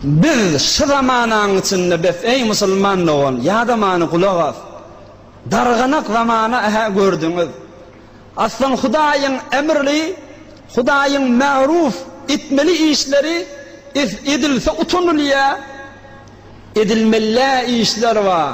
Biz şu zamanaň içinde bes eý musulman dogan ýada many gulak as. Darganak zamana ähä gördüňiz. Aslan Hudaýyň emrli, Hudaýyň märuuf etmeli işleri is edilse utanylýa. Edilmelä işler bar.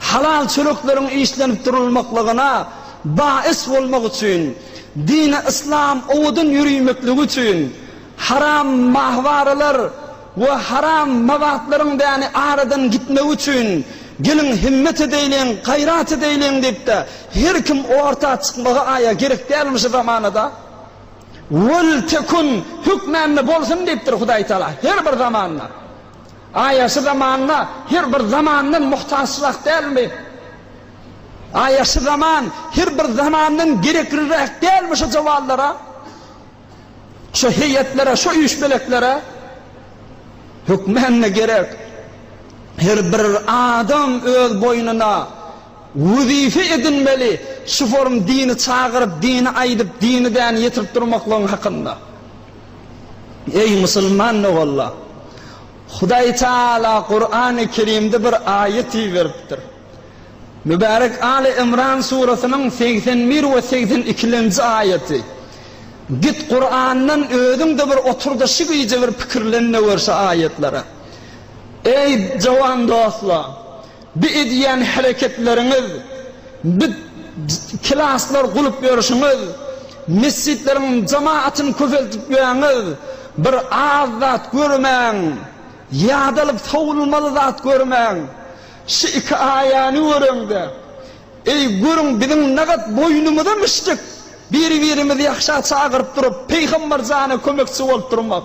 Halal çörekleriň işlenip durulmaklygyna baýys bolmak üçin, dini yslam owadan ýörimekligi üçin, haram mahwaralar we haram mabatlaryň däni aradan gitmegi üçin, geliň himmet edeýliň, gaýrat edeýliň diýip-de, her kim orta çykmagy aýa gerek dälmi şu zamanada? Wel tekun hökmände bolsun diýipdir Hudaýtagala her bir zamanda. Aýaşy zamanyna her bir zamandan muhtaçrak dälmi? Aýaşy zaman her bir zamandan gerekliräk dälmi şu jawanlara? Şu heýetlere, şu üýşmeleklere? Hökmände gerek. Her bir adam öz boýnuna wezipe edinmeli, şu forum dini çagyryp, dini aýdyp, dini däni ýetirip durmaklygyň hakynda. Eý musulman doganlar! Hudaý Tagala Kurany Kerimde bir aýat iberipdir. Mübärek Aly Imran surasynyň segsen bir we segsen ikilenji aýaty. Git Kurandan özüň-de bir otur-da şu gije bir pikirlen-de gör şu aýatlara. Eý jowan dostlar! Bu edýän hereketleriňiz, bu klaslar gulyp ýörşüňiz, mesjitleriň jamaatyny köpeltip ýörňiz, bir az zat görmäň, ýadalyp sowulmaly zat görmäň. Şu iki aýany göreňde, eý, görüň biziň nagat boýnumyza müşdük, biri-birimizi ýagşa çagyryp durup, Pygamber jana kömekçi bolup durmak.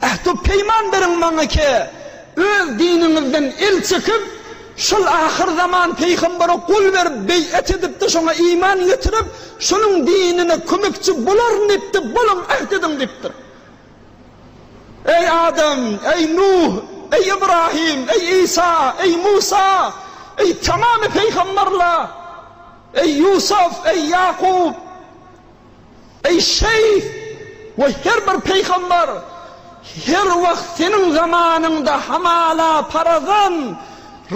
Ähtu peýman beriň maňa ki, öz diniňizden el çekip, şol ahyr zaman pygambere gol berip, beýat edip-de, şoňa iman getirip, şonuň dinine kömekçi bolaryn diýip-de, boluň, äht ediň diýipdir. Eý Adam, eý Nuh, eý Ibrahim, eý Isa, eý Musa, eý tamamy pygamberler, eý Ýusuf, eý Ýakup, Eý şeýh! We her bir pygamber her wagt seniň zamanyňda hamala parazan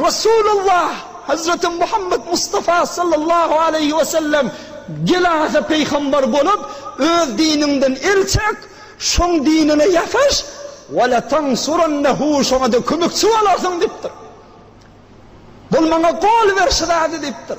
Resulullah Hazreti Muhammet Mustafa sallallahu aleýhi we sellem gelase pygamber bolup öz diniňden el çek şoň dinine ýasaş we le tansurannehu şoňada kömekçi bolarsyň dipdir. Bol maňa gol ber şy zady dipdir.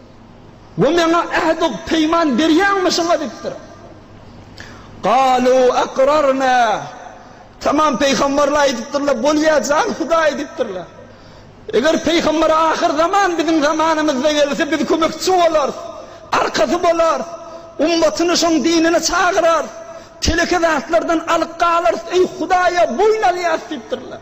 We Maňa ähd-u peýman berýäňmi şuňa? diýipdir. Galu aqrarna. Tamam, pygamberler aýdypdyrlar, Bolýar jan Hudaý diýipdirler. Eger pygamber ahyr zaman biziň zamanymyzda gelse, biz kömekçi bolarys, arkasy bolarys, ummatyny şoň dinine çagyrarys, teleke zatlardan alyk galarys, eý Hudaýa boýun alýarys diýipdirler.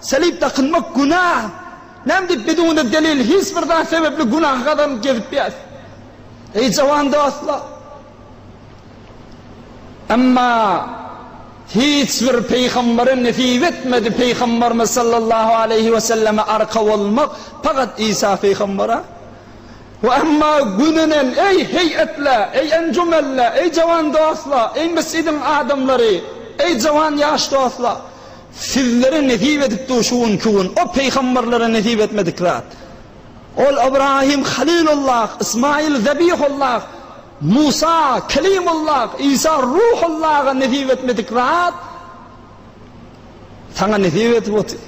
Selip dakynmak günah. Näme diýip biz ony delil hiç bir zat sebepli günaha gazanyp gezip biýäs. Eý jawan dostlar! Emma hiç bir pygambere nesip etmedi pygamberimiz sallallahu aleýhi weselleme arka bolmak pagat Isa pygambere. We emma gününen eý heýetla, eý enjumenla, eý jawan dostlar, eý mesjidiň adamlary, eý jawan ýaş dostlar! Sizlere nesip edipdi şu günki gün, o pygamberlere nesip etmedik zat. Ol Ybrahym Halilullah, Ysmaýyl Zabihullah, Musa Kelimullah, Isa Ruhullaha nesip etmedik zat saňa nesip edip otyr.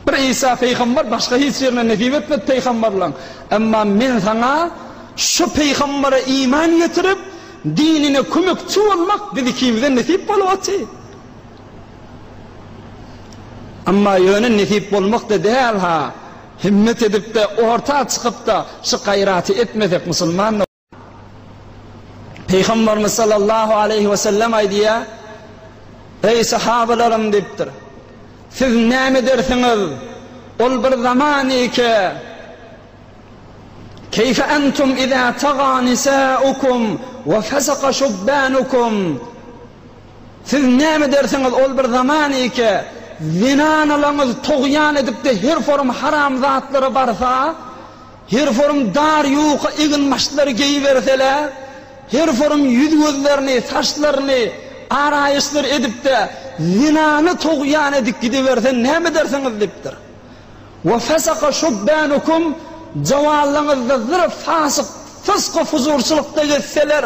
Bir Isa pygamber başga hiç ýerine nesip etmedi pygamberligiň. Emma men saňa şu pygambere iman getirip, dinine kömekçi bolmak biz ikimize nesip bolup otyr. Emma ýöne nesip bolmakda däl-ha. Himmet edip-de, orta çykyp-da şu gaýraty etmesek musulman. Pygamberimiz sallallahu aleýhi wesellem aýdýar, Eý, sahabalarym diýipdir, siz näme edersiňiz? Ol bir zaman eke, Keýfe entum iza taga nisaukum we fesaka şubbanukum? Siz näme edersiňiz, ol bir zaman eke, zenanalaňyz togýan edip-de her forum haramzatlara barsa, her forum dar ýuka eginbaşlary geýiberseler, her forum ýüz-gözlerini, saçlaryny araýyşdyr edip-de, zenany togýan edip gidiberse näme edersiňiz? diýipdir. Wa fasaka şubbanukum, jawanlygyňyzda zyr fasyk, fysky-fujurçylykda gezseler,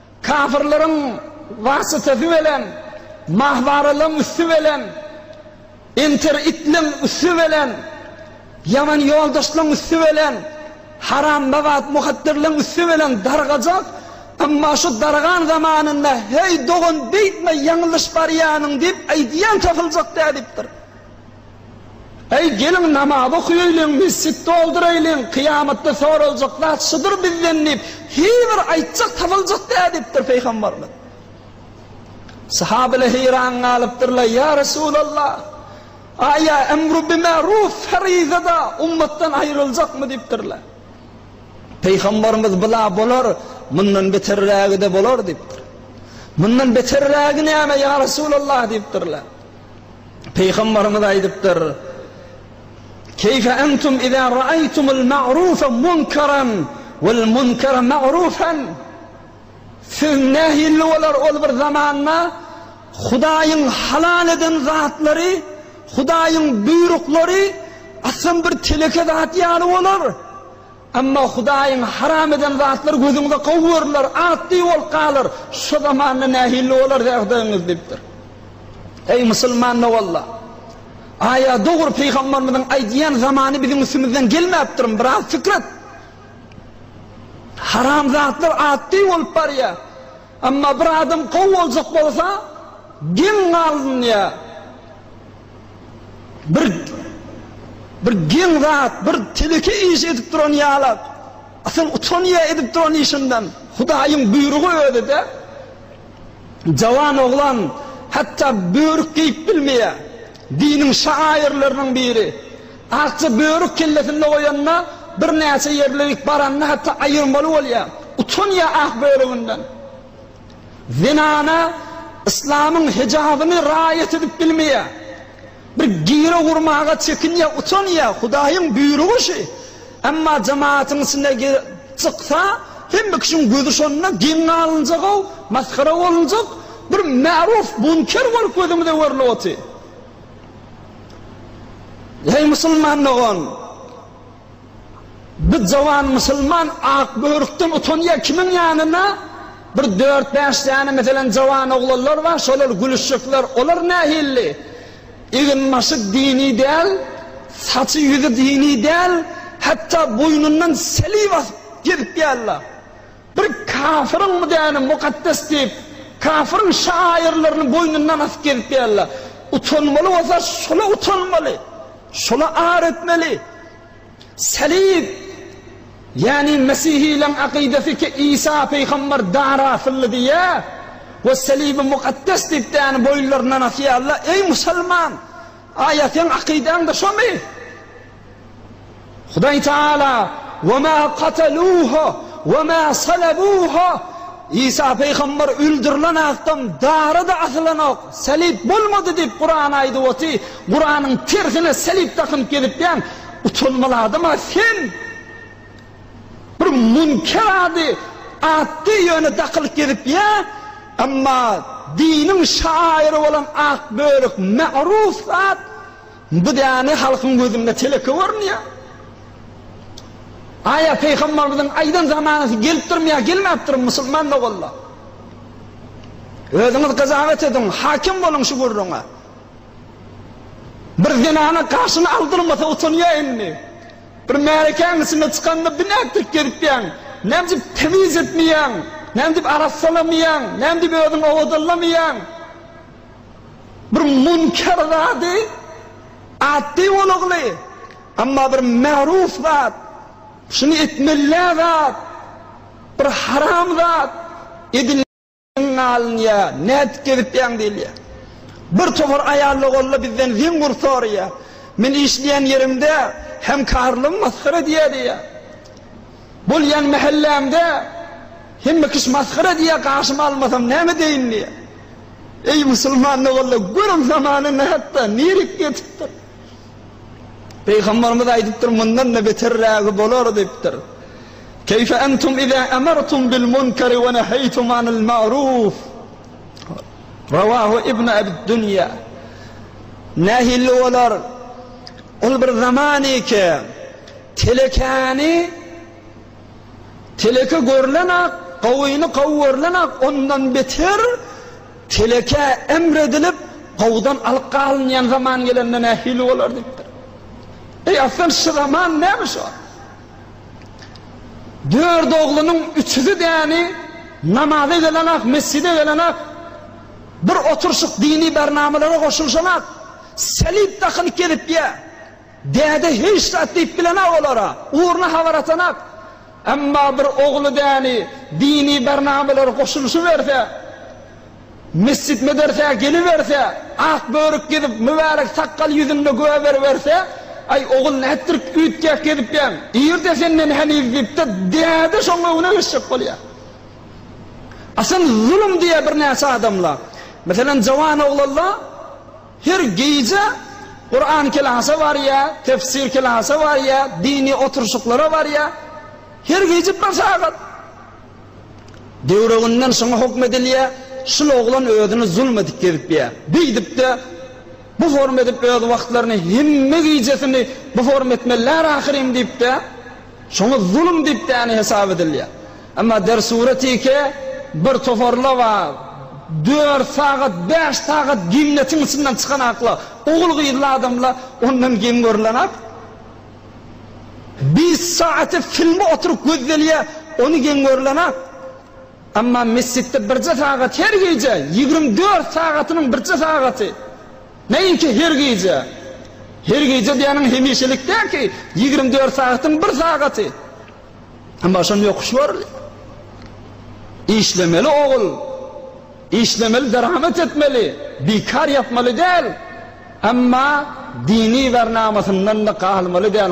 Kafirleriň wasytasy bilen, mahwaralyň üsti bilen, entertitliň üsti bilen, ýaman ýoldaşlyň üsti bilen, harambabat muhatdirliň üsti bilen dargajak, emma şu dargan zamanynda heý dogan beýtme ýaňylyş barýanyň diýip aýdýan tapyljak dädipdir. Äý, geliň, namaz okaýaýlyň, mesjit dolduraýlyň, kyýamatda soraljak zat şudur bizden diýip, hybir aýtjak tapyljak dä diýipdir Pygamberimiz. Sahabylar heýran galypdyrlar, Ýa Resulallah, aýa emru bi ma'ruf feryzada ummatdan aýryljakmy diýipdirler. Pygamberimiz bula bolar, mundan beterrägi-de bolar diýipdir. Mundan beterrägi näme ýa Resulallah diýipdirler. Pygamberimiz aýdypdyr, Keýfe entum iza ra'aytumul ma'rufa munkaran wal munkara ma'rufan? Siz nähilli bolar ol bir zamanda Hudaýyň halal eden zatlary, Hudaýyň buýruklary asam bir teleke zat ýaly bolar. Emma Hudaýyň haram eden zatlary gözüňize gowy görüler, atly bolup galar. Şu zamanda nähilli bolarys ýagdaýyňyz? diýipdir. Eý, musulman doganlar! Aýa dogry pygamberimiziň aýdýan zamany biziň üstümizden gelmäpdirmi? Biraz pikir et. Haram zatlar atly bolup barýar. Emma bir adam gowy boljak bolsa, geň galynýar. Bir bir geň zat, bir teleke iş edip duran ýala, asyl utanýa edip duran işinden. Hudaýyň buýrugy özi-de. Jawan oglan hatda börük geýip bilmeýä. Diniň şaýyrlarynyň biri. Akja börük kellesinde goýanda, birnäçe ýerlerik baranda hatda aýyrmaly bolýa. Utanýa ak börüginden. Zenana yslamyň hijabyny raýat edip bilmeýär. Bir gire gurmaga çekinýär, utanýar, Hudaýyň buýrugy şu. Emma jemaatyň içinde çyksa, hemme kişiň gözi şonda geň galynjak-ow, masgara bolunjak, bir märuf munker bolup gözümize görnüp otyr. Eý musulman dogan! Bu jawan musulman ak börükden utanýar kimiň ýanyna bir dört bäş däne meselem jawan oglanlar bar şolar gülüşjekler olar nähilli egin başy dini däl saçy ýüzi dini däl hatda boýnundan selib asyp gezip ýärler. Bir kafyryň müdäni mukaddes diýip, kafyryň şaýyrlaryny boýnundan asyp gezip ýörler. Utanmaly bolsa şola utanmaly, şola ar etmeli. Salib, ýagny mesihileriň akydasy ki Isa pygamber dar asyldy diýýär we salibi mukaddes diýip däni boýunlaryndan asýarlar. Eý musulman! Aýa seň akydaň-da şomy? Hudaý Taala, Ve ma kataluha ve ma salabuha, Isa pygamber öldürilen atdan dara-da asylanok, salyp bolmady diýip Kuran aýdyp oty, Kuranyň tersine salyp dakynyp gezipýäň, utanmaly adam-a sen! Bir münker ady atdy ýöne dakylyp gezipýä, emma diniň şaýyry bolan ak bölek magruh zat, Bu däne halkyň gözünde teleke görünýär. Aýa Pygamberimiziň aýdan zamanasy gelipdirmi ýa gelmäpdirmi musulman doganlar? Özüňiz gyzagat ediň, hakim boluň şu gürrüňe. Bir zenana gaşyny aldyrmasa utanýar indi. Bir märekäň içinde çykanda binäk dek gezipýäň. Näme dip temiz etmeýäň? Näme dip arassalamaýaň? Näme dip özüňi owadanlamaýaň? Bir münker zady atdy bolagly, emma bir märuf zat, şuny etmelä zat, bir haram zat edil alynýar, nädip gezipýäň diýilýär. Bir topar aýalla golla bizden zeňňur soraýar. Men işleýän ýerimde hemkarlym masgara diýýär diýýär. Bolýan mähellämde hemme kişi masgara diýýär, gaşyma almasam näme edeýin diýýär. Eý musulman doganlar, görüň zamana nätdi, nirek ýetipdir. Pygamberimiz aýdypdyr, mundan-da beterrägi bolar diýipdir. Keýfe entum iza amartum bil munkari we neheýtum anil ma'ruf. Rawahu ibn Abid-Dunya. Nähili bolar? Ol bir zaman eke, telekäni teleke görlenak, gawyny gawy görlenak, ondan beter telekä emredilip, gawudan alyp galynýan zaman gelende nähili bolar diýipdir. Eý, aslan, şu zaman näme şo? Dört oglunyň üçüsi däni namaza gelenak, mesjide gelenak, bir oturşyk dini bernamalara goşulyşanak. Selip dakylyp gelip ýa. Däde hiç zat diýip bilenak olara, ugruna habar atanak. Emma bir ogly däni dini barnamalara goşulyşyberse, mesjit-medersä geliberse, ak börük gezip, mübärek sakgal ýüzünde güwä beriberse, Aý, ogul, nätdirik üýtgäk gezipýäň? Ir-de senden heniz diýip-de, däde şoň öňüne geçjek bolýa. Asyl zulum diýýär birnäçe adamla. Meselem Jawan oglanla her gije Kuran kelasa barýa, tefsir kelasa barýa, dini oturşyklara barýa. Her gije bir sagat. Döwreginden şoňa hukm edilýä, şul oglan özüni zulum edip gezipýä. Beýdipde bu form edip öz wagtlaryny hemme gijesini bu form etmelär ahyrym diýipde. Şoňa zulum diýip däne hesap edilýä. Emma Dersure Tike bir toparla bar, dört sagat, bäş sagat ginnetiň içinden çykan akla, ogul-gyzly adamla ondan geň görülenak. Bes sagat filmi oturyp gözdelýä, ony geň görülenak. Emma mesjitde birje sagat her gije, ýigrimi dört sagatynyň birje sagaty. Näinki her gije. Her gije diýeniň hemişelik däl ki, ýigrimi dört sagatyň bir sagaty. Emma şonda ýokuş barly. Işlemeli ogul. Işlemeli, deramet etmeli. Bikar ýatmaly däl. Emma dini bernamasyndan-da galmaly däl.